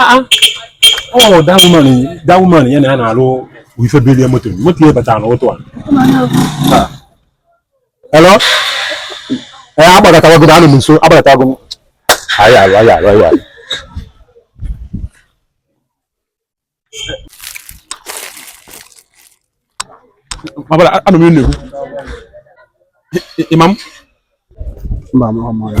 Ah, ah. Oh, that woman, that woman, yeah, na alo, we should be there motor. What you better know to. Hello? Eh, abada tawa go danu nso, abada tawa go. Ayi, ayi, ayi, ayi, ayi. Abada, anu mi nnewu. Imam? Imam, ọmọ ya.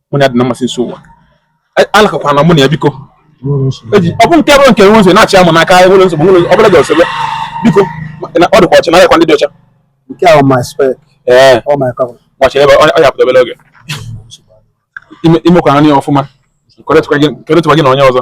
mụ na ya dị na mmasị nso ụwa e, alakakwa na mụ na ya biko ọ bụ nke bụrụ nke nwe nso na-achị amụ n'aka nwere nsogbu nwere ọbụla dị ọsọ biko ọ dịkwa ọcha na ayakwa ndị dị ọcha nke ahụ my spec ee ọ my cover gbachi ebe ọ ya pụta obere oge imekwa nri ọfụma kọrịtụkwa gị na onye ọzọ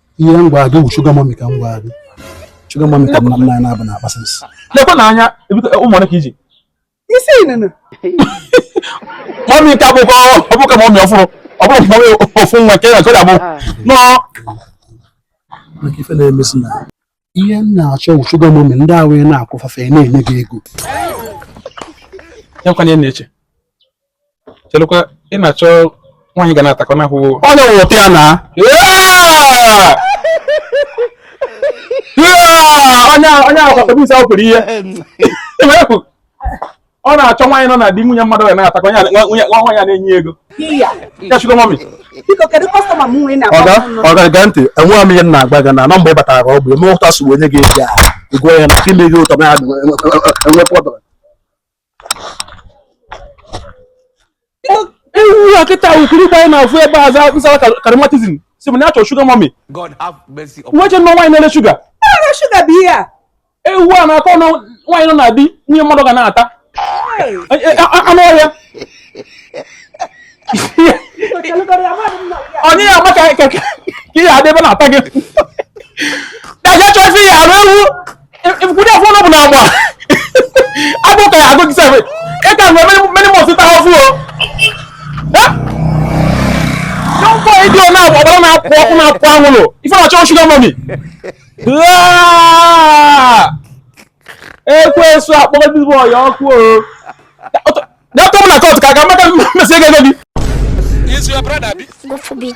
ihe m gwara gị wụ sugar mummy ka m gwara gị sugar mummy ka nna nna ya na-abụ na akpasị nsị lekwa na anya ụmụ ole ka ị ji isi inene mami ka bụkwa ọ bụ ka mami ọfụrụ ọ bụrụ mami ofu nwa ka ya ka ọ ga-abụ nọọ maka ife na-emezi m ihe m na-achọ wụ sugar mummy ndị ahụ ya na-akwụfafe ya na-enye gị ego ya kwanye na-eche chelụkwa ị na-achọ nwaanyị ga na-atakọ n'ahụ onye wụta ya na onye ahụ onye ahụ kwatara isi ahụ pụrụ ihe ọ na-achọ nwaanyị nọ na di nwunye mmadụ ya na-atakọ ya nwunye nwa ya na-enye ego ya sugar mummy ọga gee ntị enweghị m ihe m na-agba gị na na mgbe ị batara ka ọ bụ eme ụta sugar boy onye ga-eji ahụ igwe ya na-eme gị ụtọ na enwe pọtọ ewu a kịta wukiri ikpe anyị na-afụ ebe a za nsara karịmatizm si bụ na-achọ sugar mummy nwa je nọ nwaanyị na-ele sugar sugar bụ ihe a ewu a na-akọ ọnụ nwaanyị nọ na di nwunye mmadụ ga na-ata anụ ọhịa onye ya maka ka ihe adị ebe na-ata gị daga chọfi ya arụ ewu Efukude afọ ọnụ bụ n'agba. Agụụ ka ya-agụ gị sef. Ị ka nwere many months ịta ahụhụ o. Young boy dị ọ na-agba ọbara na-apụ ọkụ na-apụ anwụrụ. Ife ọ na-achọ sugar mummy. Ekwensu akpọgo ndị bọyị ọkụ o. Dọkịta m na kọtụ ka aga maka mmesi ego ego gị. Is your brother? God forbid.